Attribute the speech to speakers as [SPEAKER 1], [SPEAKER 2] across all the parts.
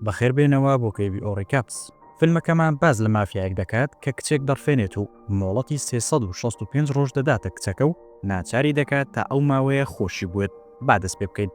[SPEAKER 1] بەخێر بێنەوە بۆ کەیڤی ئۆ ڕیکاپس. فیلمەکەمان باس لە مافیایەک دەکات کە کچێک دەڕفێنێت و مۆڵەتی سێ سەد و شەست و پێنج ڕۆژ دەداتە کچەکە و ناچاری دەکات تا ئەو ماوەیە خۆشی بوێت با دەست پێ بکەین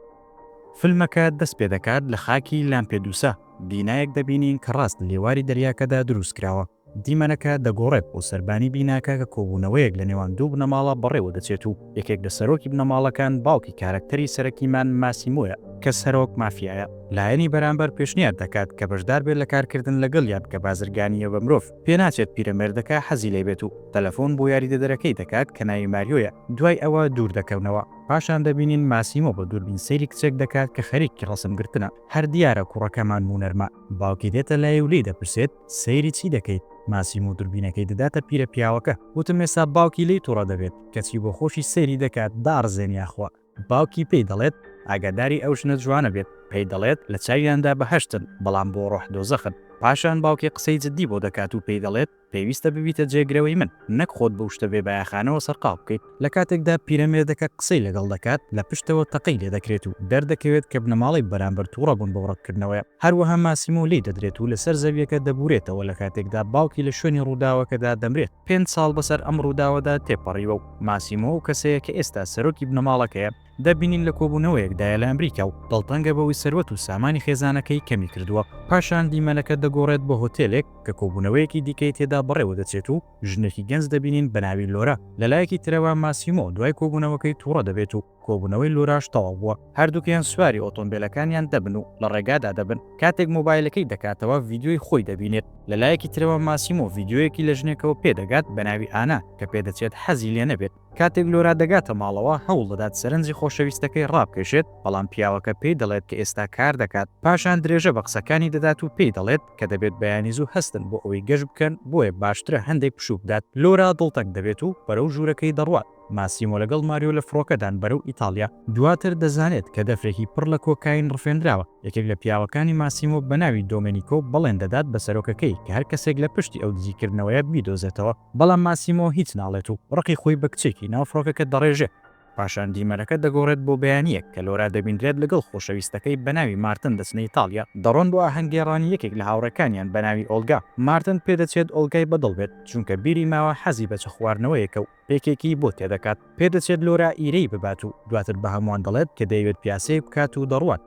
[SPEAKER 1] فیلمەکە دەست پێ دەکات لە خاکی لامپێدوسا بینایەک دەبینین کە ڕاست لێواری دەریاکەدا دروست کراوە دیمەنەکە دەگۆڕێت بۆ سەربانی بیناکە کە کۆبوونەوەیەک لە نێوان دوو بنەماڵە بەڕێوە دەچێت و یەکێک لە سەرۆکی بنەماڵەکان باوکی کارەکتەری سەرەکیمان ماسیمۆیە کە سەرۆک مافیایە، لایەنی بەرامبەر پێشنیار دەکات کە بەشدار بێت لە کارکردن لەگەڵیان کە بازرگانییە بە مرۆڤ، پێناچێت پیرەمێردەکە حەزی لێ بێت و تەلەفۆن بۆ یاریدەدەرەکەی دەکات کە ناوی ماریۆیە، دوای ئەوە دوور دەکەونەوە، پاشان دەبینین ماسیمۆ بە دووربین سەیری کچێک دەکات کە خەریکی ڕەسم گرتنە، هەر دیارە کوڕەکەمان مونەرمە باوکی دێتە لای و لێی دەپرسێت، سەیری چی دەکەیت؟ ماسیم و دوربینەکەی دەداتە پیرە پیاوەکە. وتم ئێستا باوکی لێی توڕە دەبێت، کەچی بۆ خۆشی سەیری دەکات، داڕزێن یاخوا. باوکی پێی دەڵێت ئاگاداری ئەو ژنە جوانە بێت، پێی دەڵێت لە چاویاندا بەهەشتن، بەڵام بۆ ڕۆح دۆزەخن. پاشان باوکی قسەی جدی بۆ دەکات و پێی دەڵێت پێویستە ببیتە جێگرەوەی من، نەک خۆت بەو شتە بێبایەخانەوە سەرقاڵ بکەیت. لە کاتێکدا پیرەمێردەکە قسەی لەگەڵ دەکات، لە پشتەوە تەقەی لێ دەکرێت و دەردەکەوێت کە بنەماڵەی بەرامبەر تووڕە بوون بەو ڕەتکردنەوەیە. هەروەها ماسیمۆ لێی دەدرێت و لەسەر زەوییەکە دەبوورێتەوە لە کاتێکدا باوکی لە شوێنی ڕووداوەکەدا دەمرێت. پێنج ساڵ بەسەر ئەم ڕووداوەدا تێپەڕیوە و ماسیمۆ ئەو کەسەیە کە ئێستا سەرۆکی بنەماڵەکەیە، دەبینین لە کۆبوونەوەیەکدایە لە ئەمریکا و دڵتەنگە بەوەی سەروەت و سامانی خێزانەکەی کەمی کردووە. پاشان دیمەنەکە دەگۆڕێت بۆ هۆتێلێک کە کۆبوونەوەیەکی دیکەی تێدا بەڕێوە دەچێت و، ژنێکی گەنج دەبینین بە ناوی لۆرا، لە لایەکی ترەوە ماسیمۆ دوای کۆبوونەوەکەی توڕە دەبێت و کۆبوونەوەی لۆراش تەواو بووە، هەردووکیان سواری ئۆتۆمبێلەکانیان دەبن و لە ڕێگادا دەبن، کاتێک مۆبایلەکەی دەکاتەوە ڤیدیۆی خۆی دەبینێت، لە لایەکی ترەوە ماسیمۆ ڤیدیۆیەکی لە ژنێکەوە پێدەگات بە ناوی ئانا کە پێدەچێت حەزی لێ نەبێت، کاتێک لۆرا دەگاتە ماڵەوە، هەوڵ دەدات سەرنجی خۆشەویستەکەی ڕابکێشێت، بەڵام پیاوەکە پێی دەڵێت کە ئێستا کار دەکات. پاشان درێژە بە قسەکانی دەدات و پێی دەڵێت کە دەبێت بەیانی زوو هەستن بۆ ئەوەی گەشت بکەن، بۆیە باشترە هەندێک پشوو بدات. لۆرا دڵتەنگ دەبێت و بەرەو ژوورەکەی دەڕوات. ماسیمۆ لەگەڵ ماریۆ لە فڕۆکەدان بەرەو ئیتاڵیا. دواتر دەزانێت کە دەفرێکی پڕ لە کۆکاین ڕفێندراوە. یەکێک لە پیاوەکانی ماسیمۆ بە ناوی دۆمێنیکۆ بەڵێن دەدات بە سەرۆکەکەی کە هەر کەسێک لە پشتی ئەو دزیکردنەوەیە بیدۆزێتەوە. بەڵام ماسیمۆ هیچ ناڵێت و ڕقی خۆی بە کچێکی ناو فڕۆکەکە دەڕێژێت، پاشان دیمەنەکە دەگۆڕێت بۆ بەیانییەک کە لۆرا دەبینرێت لەگەڵ خۆشەویستەکەی بەناوی مارتن دەچنە ئیتاڵیا، دەڕۆن بۆ ئاهەنگگێڕانی یەکێک لە هاوڕێکانیان بەناوی ئۆڵگا، مارتن پێدەچێت ئۆڵگای بەدڵ بێت چونکە بیری ماوە حەزی بە چ خواردنەوەیەکە و پێکێکی بۆ تێدەکات، پێدەچێت لۆرا ئیرەی ببات و دواتر بە هەمووان دەڵێت کە دەیەوێت پیاسەیەک بکات و دەڕوات،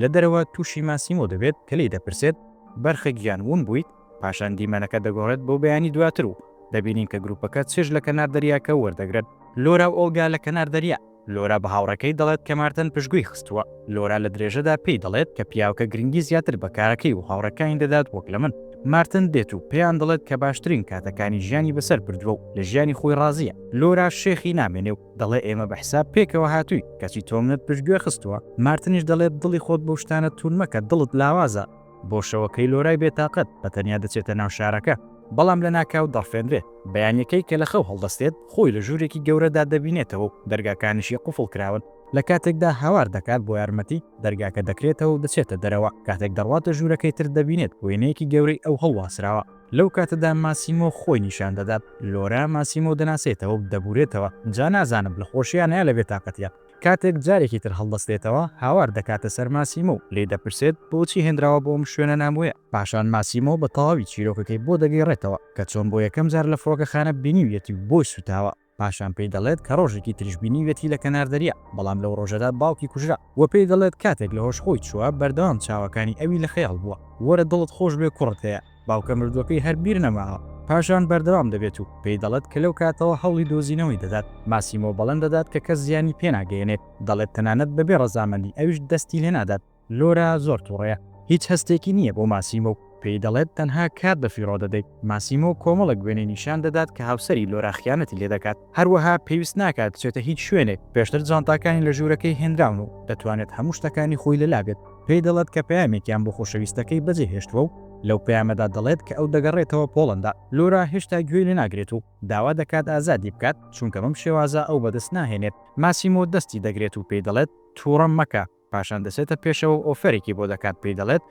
[SPEAKER 1] لە دەرەوە تووشی ماسیمۆ دەبێت کە لێی دەپرسێت، بەرخە گیان وون بوویت؟ پاشان دیمەنەکە دەگۆڕێت بۆ بەیانی دواتر و دەبینین کە گروپەکە چێژ لە کەنار دەریاکە وەردەگرن. لۆرا و ئۆڵگا لە کەنار دەریا. لۆرا بە هاوڕێکەی دەڵێت کە مارتن پشتگوێی خستووە. لۆرا لە درێژەدا پێی دەڵێت کە پیاوەکە گرنگی زیاتر بە کارەکەی و هاوڕێکانی دەدات وەک لە من. مارتن دێت و پێیان دەڵێت کە باشترین کاتەکانی ژیانی بەسەر بردووە و لە ژیانی خۆی ڕازییە. لۆراش شێخی نامێنێ و دەڵێ ئێمە بە حساب پێکەوە هاتووین کەچی تۆ منت پشتگوێ خستووە. مارتنیش دەڵێت دڵی خۆت بەو شتانە توون مەکە دڵت لاوازە. بۆ شەوەکەی لۆرای بێتاقەت بە تەنیا دەچێتە ناو شارەکە، بەڵام لەناکاو دەڕفێنرێت. بەیانییەکەی کە لە خەو هەڵدەستێت، خۆی لە ژوورێکی گەورەدا دەبینێتەوە و دەرگاکانیشی قوفڵ کراون. لە کاتێکدا هاوار دەکات بۆ یارمەتی، دەرگاکە دەکرێتەوە و دەچێتە دەرەوە. کاتێک دەڕواتە ژوورەکەی تر دەبینێت وێنەیەکی گەورەی ئەو هەڵواسراوە. لەو کاتەدا ماسیمۆ خۆی نیشان دەدات. لۆرا ماسیمۆ دەناسێتەوە و دەبورێتەوە، جا نازانم لە خۆشییانە یا لە بێتاقەتییە. کاتێک جارێکی تر هەڵدەستێتەوە، هاوار دەکاتە سەر ماسیمۆ و لێی دەپرسێت، بۆچی هێنراوە بۆ ئەم شوێنە نامۆیە؟ پاشان ماسیمۆ بە تەواوی چیرۆکەکەی بۆ دەگێڕێتەوە، کە چۆن بۆ یەکەم جار لە فڕۆکەخانە بینیویەتی و بۆی سووتاوە، پاشان پێی دەڵێت کە ڕۆژێکی تریش بینیویەتی لە کەنار دەریا، بەڵام لەو ڕۆژەدا باوکی کوژرا و پێی دەڵێت کاتێک لە هۆش خۆی چووە، بەردەوام چاوەکانی ئەوی لە خەیاڵ بووە. وەرە دڵت خۆش بێ کوڕت هەیە. باوکە مردووەکەی هەر بیر نەماوە. پاشان بەردەوام دەبێت و پێی دەڵێت کە لەو کاتەوە هەوڵی دۆزینەوەی دەدات. ماسیمۆ بەڵێن دەدات کە کەس زیانی پێناگەیەنێت، دەڵێت تەنانەت بەبێ ڕەزامەندی ئەویش دەستی لێنادات. لۆرا زۆر توڕەیە، هیچ هەستێکی نییە بۆ ماسیمۆ و پێی دەڵێت تەنها کات بەفیڕۆ دەدەیت. ماسیمۆ کۆمەڵێک وێنەی نیشان دەدات کە هاوسەری لۆرا خیانەتی لێدەکات. هەروەها پێویست ناکات بچێتە هیچ شوێنێک، پێشتر جانتاکانی لە ژوورەکەی هێنراون و دەتوانێت هەموو شتەکانی خۆی لەلا بێت، پێی دەڵێت کە پەیامێکیان بۆ خۆشەویستەکەی بەجێهێشتووە و لەو پەیامەدا دەڵێت کە ئەو دەگەڕێتەوە پۆڵەندا. لۆرا هێشتا گوێی لێناگرێت و داوا دەکات ئازادی بکات، چونکە بەم شێوازە ئەو بەدەست ناهێنێت. ماسیمۆ دەستی دەگرێت و پێی دەڵێت تووڕەم مەکە، پاشان دەچێتە پێشەوە و ئۆفەرێکی بۆ دەکات پێی دەڵێت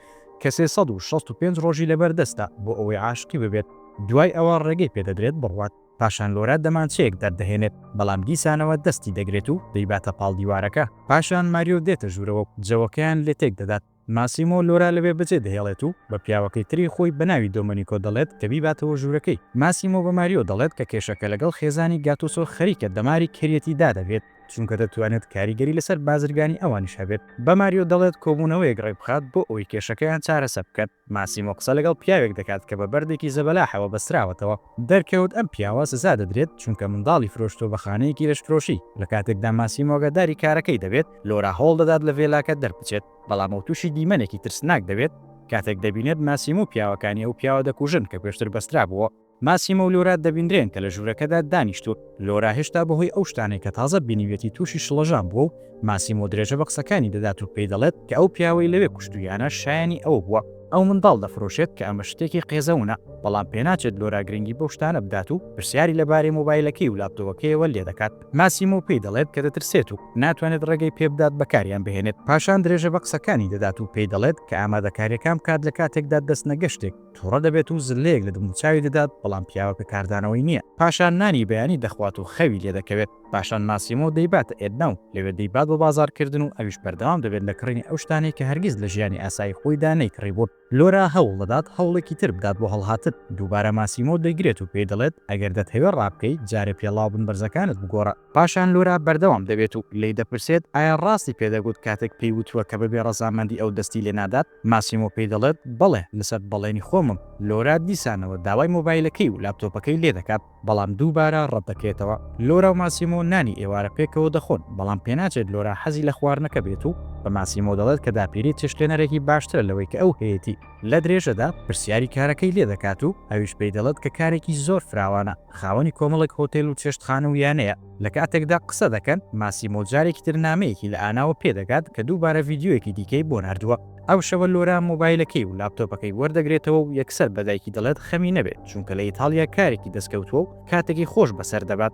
[SPEAKER 1] کە سێ سەد و شەست و پێنج ڕۆژی لەبەر دەستە بۆ ئەوەی عاشقی ببێت، دوای ئەوە ڕێگەی پێ دەدرێت بڕوات، پاشان لۆرا دەمانچەیەک دەردەهێنێت بەڵام دیسانەوە دەستی دەگرێت و دەیباتە پاڵ دیوارەکە، پاشان ماریۆ دێتە ژوورەوە و جەوەکەیان لێ تێک دەدات، ماسیمۆ لۆرا لەوێ بەجێ دەهێڵێت و بە پیاوەکەی تری خۆی بە ناوی دۆمەنیکۆ دەڵێت کە بیباتەوە ژوورەکەی، ماسیمۆ بە ماریۆ دەڵێت کە کێشەکە لەگەڵ خێزانی گاتوسۆ خەریکە دەماری کەریەتی دادەگرێت، چونکە دەتوانێت کاریگەری لەسەر بازرگانی ئەوانیش هەبێت. بە ماریۆ دەڵێت کۆبوونەوەیەک ڕێکبخات بۆ ئەوەی کێشەکەیان چارەسەر بکەن. ماسیمۆ قسە لەگەڵ پیاوێک دەکات کە بە بەردێکی زەبەلاحەوە بەستراوەتەوە. دەرکەوت ئەم پیاوە سزا دەدرێت چونکە منداڵی فرۆشتووە بە خانەیەکی لەشفرۆشی. لە کاتێکدا ماسیمۆ ئاگاداری کارەکەی دەبێت، لۆرا هەوڵ دەدات لە ڤێلاکە دەربچێت، بەڵام ئەو تووشی دیمەنێکی ترسناک دەبێت کاتێک دەبینێت ماسیمۆ و پیاوەکانی ئەو پیاوە دەکوژن کە پێشتر بەسترابووە. ماسیمۆ و لۆرا دەبینرێن کە لە ژوورەکەدا دانیشتوون. لۆرا هێشتا بەهۆی ئەو شتانەی کە تازە بینیویەتی تووشی شڵەژان بووە و ماسیمۆ درێژە بە قسەکانی دەدات و پێی دەڵێت کە ئەو پیاوەی لەوێ کوشتوویانە شایەنی ئەوە بووە ئەو منداڵ دەفرۆشێت کە ئەمە شتێکی قێزەونە، بەڵام پێناچێت لۆرا گرنگی بەو شتانە بدات و پرسیاری لەبارەی مۆبایلەکەی و لاپتۆوەکەیەوە لێ دەکات. ماسیمۆ پێی دەڵێت کە دەترسێت و ناتوانێت ڕێگەی پێ بدات بەکاریان بهێنێت. پاشان درێژە بە قسەکانی دەدات و پێی دەڵێت کە ئامادەکارییەکان بکات لە کاتێکدا دەستنە گەشتێک. توڕە دەبێت و زلەیەک لە دموچاوی دەدات، بەڵام پیاوەکە کاردانەوەی نییە. پاشان نانی بەیانی دەخوات و خەوی لێدەکەوێت. پاشان ماسیمۆ دەیباتە ئێدنا و لەوێ دەیبات بە بازاڕکردن و ئەویش بەردەوام دەبێت لە کڕینی ئەو شتانەی کە هەرگیز لە ژیانی ئاسایی خۆیدا نەیکڕیبوون. لۆرا هەوڵ دەدات هەوڵێکی تر بدات بۆ هەڵهاتن. دووبارە ماسیمۆ دەیگرێت و پێی دەڵێت، ئەگەر دەتهەوێ ڕابکەی، جارێ پێڵاو بن بەرزەکانت بگۆڕە. پاشان لۆرا بەردەوام دەبێت و لێی دەپرسێت، ئایا ڕاستی پێدەگوت کاتێک پێی وتووە کە بەبێ ڕەزامەندی ئەو دەستی لێنادات؟ ماسیمۆ پێی دەڵێت، بەڵێ، لەسەر بەڵێنی خۆمم. لۆرا دیسانەوە داوای مۆبایلەکەی و لاپتۆپەکەی لێ دەکات، بەڵام دووبارە ڕەت دەکرێتەوە. لۆرا و ماسیمۆ نانی ئێوارە پێکەوە دەخۆن، بەڵام پێناچێت لۆرا حەزی لە خواردنەکە بێت و بە ماسیمۆ دەڵێت کە داپیری چێشتلێنەرێکی باشترە لەوەی کە ئەو هەیەتی. لە درێژەدا پرسیاری کارەکەی لێ دەکات و ئەویش پێی دەڵێت کە کارێکی زۆر فراوانە، خاوەنی کۆمەڵێک هۆتێل و چێشتخانە و یانەیە. لە کاتێکدا قسە دەکەن، ماسیمۆ جارێکی تر نامەیەکی لە ئاناوە پێ دەگات کە دووبارە ڤیدیۆیەکی دیکەی بۆ ناردووە. ئەو شەوە لۆرا مۆبایلەکەی و لاپتۆپەکەی وەردەگرێتەوە و یەکسەر بە دایکی دەڵێت خەمی نەبێت چونکە لە ئیتاڵیا کارێکی دەستکەوتووە و کاتێکی خۆش بەسەر دەبات.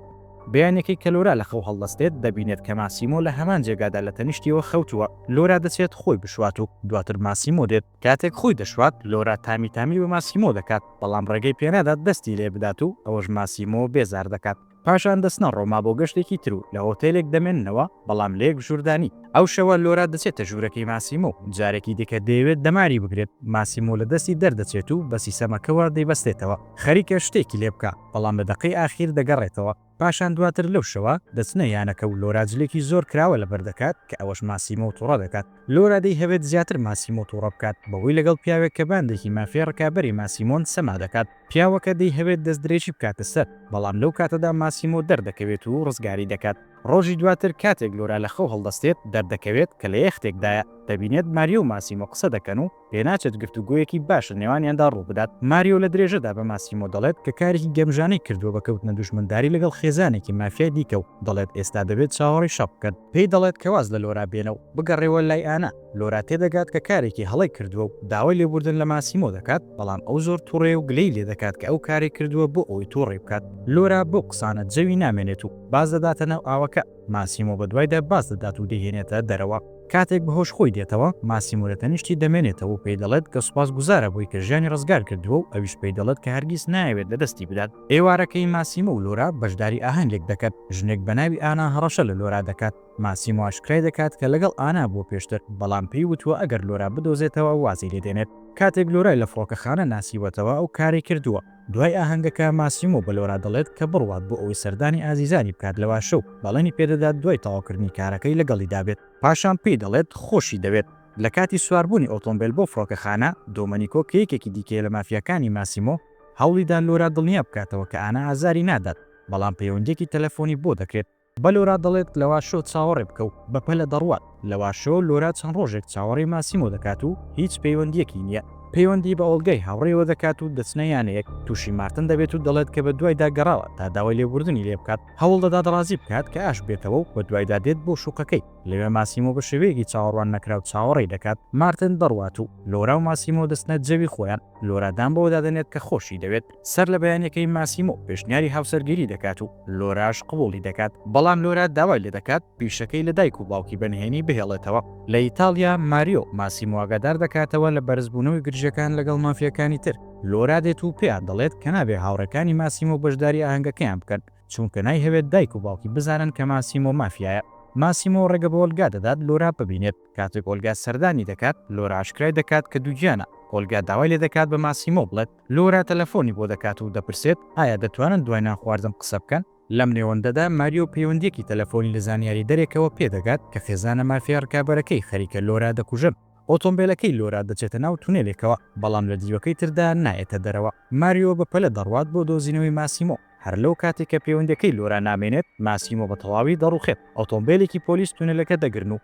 [SPEAKER 1] بەیانیەکەی کە لۆرا لە خەو هەڵدەستێت، دەبینێت کە ماسیمۆ لە هەمان جێگادا لە تەنیشتیەوە خەوتووە. لۆرا دەچێت خۆی بشوات و دواتر ماسیمۆ دێت. کاتێک خۆی دەشوات، لۆرا تامی تامی بە ماسیمۆ دەکات، بەڵام ڕێگەی پێنادات دەستی لێ بدات و ئەوەش ماسیمۆ بێزار دەکات. پاشان دەچنە ڕۆما بۆ گەشتێکی تر و لە هۆتێلێک دەمێننەوە، بەڵام لە یەک ژووردانی. ئەو شەوە لۆرا دەچێتە ژوورەکەی ماسیمۆ و جارێکی دیکە دەیەوێت دەماری بگرێت، ماسیمۆ لە دەستی دەردەچێت و بە سیسەمەکەوە دەیبەستێتەوە، خەریکە شتێکی لێ بکا، بەڵام لە دەقەی ئاخیر دەگەڕێتەوە. پاشان دواتر لەو شەوە دەچنە یانەکە و لۆرا جلێکی زۆر کراوە لەبەر دەکات کە ئەوەش ماسیمۆ توڕە دەکات، لۆرا دەیهەوێت زیاتر ماسیمۆ توڕە بکات بەوەی لەگەڵ پیاوێک کە باندێکی مافیای ڕکابەری ماسیمۆن سەما دەکات، پیاوەکە دەیهەوێت دەستدرێژی بکاتە سەر، بەڵام لەو کاتەدا ماسیمۆ دەردەکەوێت و ڕزگاری دەکات. ڕۆژی دواتر کاتێک لۆرا لە خەو هەڵدەستێت، دەردەکەوێت کە لە یەختێکدایە. دەبینێت ماریۆ و ماسیمۆ قسە دەکەن و پێناچێت گفتوگۆیەکی باش لە نێوانیاندا ڕووبدات. ماریۆ لە درێژەدا بە ماسیمۆ دەڵێت کە کارێکی گەمژانەی کردووە بە کەوتنە دوژمنداری لەگەڵ خێزانێکی مافیای دیکە و دەڵێت ئێستا دەبێت چاوەڕێی شەڕ بکەن. پێی دەڵێت کە واز لە لۆرا بێنە و بگەڕێوە لای ئانا. لۆرا تێدەگات کە کارێکی هەڵەی کردووە و داوای لێبووردن لە ماسیمۆ دەکات، بەڵام ئەو زۆر توڕەیە و گلەی لێدەکات کە ئەو کارێک کردووە بۆ ئەوەی توڕەی بکات. لۆرا بەو قسانە جەوی نامێنێت و باز دەداتە ناو ئاوەکە، ماسیمۆ بەدوایدا باز دەدات و دەیهێنێتە دەرەوە. کاتێک بەهۆش خۆی دێتەوە، ماسیمۆ لە تەنیشتی دەمێنێتەوە و پێی دەڵێت کە سوپاسگوزارە بۆی کە ژیانی ڕزگار کردووە و ئەویش پێی دەڵێت کە هەرگیز نایەوێت لەدەستی بدات. ئێوارەکەی ماسیمۆ و لۆرا بەشداری ئاهەنگێک دەکەن، ژنێک بە ناوی ئانا هەڕەشە لە لۆرا دەکات، ماسیمۆ ئاشکرای دەکات کە لەگەڵ ئانا بووە پێشتر، بەڵام پێی وتووە ئەگەر لۆرا بدۆزێتەوە وازی لێ دێنێت. کاتێک لۆرای لە فڕۆکەخانە ناسیوەتەوە ئەو کاری کردووە. دوای ئاهەنگەکە ماسیمۆ بە لۆرا دەڵێت کە بڕوات بۆ ئەوەی سەردانی ئازیزانی بکات لە واشە و بەڵێنی پێ دەدات دوای تەواوکردنی کارەکەی لەگەڵیدا بێت. پاشان پێی دەڵێت خۆشی دەوێت. لە کاتی سواربوونی ئۆتۆمبێل بۆ فڕۆکەخانە، دۆمەنیکۆ کە یەکێکی دیکەیە لە مافیاکانی ماسیمۆ، هەوڵی دا لۆرا دڵنیا بکاتەوە کە ئانا ئازاری نادات، بەڵام پەیوەندییەکی تەلەفۆنی بۆ دەکرێت. بە لۆرا دەڵێت لەواشۆ چاوەڕێ بکە و بەپەلە دەڕوات. لەواشۆ، لۆرا چەند ڕۆژێک چاوەڕێی ماسیمۆ دەکات و هیچ پەیوەندییەکی نییە. پەیوەندی بە ئۆڵگای هاوڕێیەوە دەکات و دەچنە یانەیەک. تووشی مارتن دەبێت و دەڵێت کە بەدوایدا گەڕاوە تا داوای لێبووردنی لێ بکات. هەوڵ دەدات ڕازی بکات کە ئاشببێتەوە و بەدوایدا دێت بۆ شوقەکەی. لەوێ ماسیمۆ بە شێوەیەکی چاوەڕوان نەکراو چاوەڕێی دەکات مارتن دەڕوات و لۆرا و ماسیمۆ دەچنە جەوی خۆیان. لۆرا دان بەوەدا دەنێت کە خۆشی دەوێت. سەر لە بەیانەکەی ماسیمۆ پێشنیاری هاوسەرگیری دەکات و لۆراش قبوڵی دەکات، بەڵام لۆرا داوای لێ دەکات پیشەکەی لە دایک و باوکی بە نهێنی بهێڵێتەوە. لە ئیتاڵیا، ماریۆ ماسیمۆ ئاگادار دەکاتەوە لە بەرزبوونەوەی گرژییەکان لەگەڵ مافیاکانی تر، لۆرا دێت و پێیان دەڵێت کە نابێ هاوڕێکانی ماسیمۆ بەشداری ئاهەنگەکەیان بکەن، چونکە نایهەوێت دایک و باوکی بزانن کە ماسیمۆ مافیایە. ماسیمۆ ڕێگە بە ئۆلگا دەدات لۆرا ببینێت، کاتێک ئۆلگا سەردانی دەکات، لۆرا ئاشکرای دەکات کە دووگیانە، ئۆلگا داوای لێ دەکات بە ماسیمۆ بڵێت، لۆرا تەلەفۆنی بۆ دەکات و دەپرسێت، ئایا دەتوانن دوای نانخواردن قسە بکەن؟ لەم نێوەندەدا ماریۆ پەیوەندییەکی تەلەفۆنی لە زانیاریدەرێکەوە پێ دەگات کە خێزانە مافیا ڕکابەرەکەی خەریکە لۆرا دەکوژن. ئۆتۆمبێلەکەی لۆرا دەچێتە ناو تونێلێکەوە، بەڵام لە دیوەکەی تردا نایەتە دەرەوە. ماریۆ بە پەلە دەڕوات بۆ دۆزینەوەی ماسیمۆ. هەر لەو کاتەی کە پەیوەندییەکەی لۆرا نامێنێت، ماسیمۆ بە تەواوی دەڕووخێت. ئۆتۆمبێلێکی پۆلیس تونێلەکە دەگرن و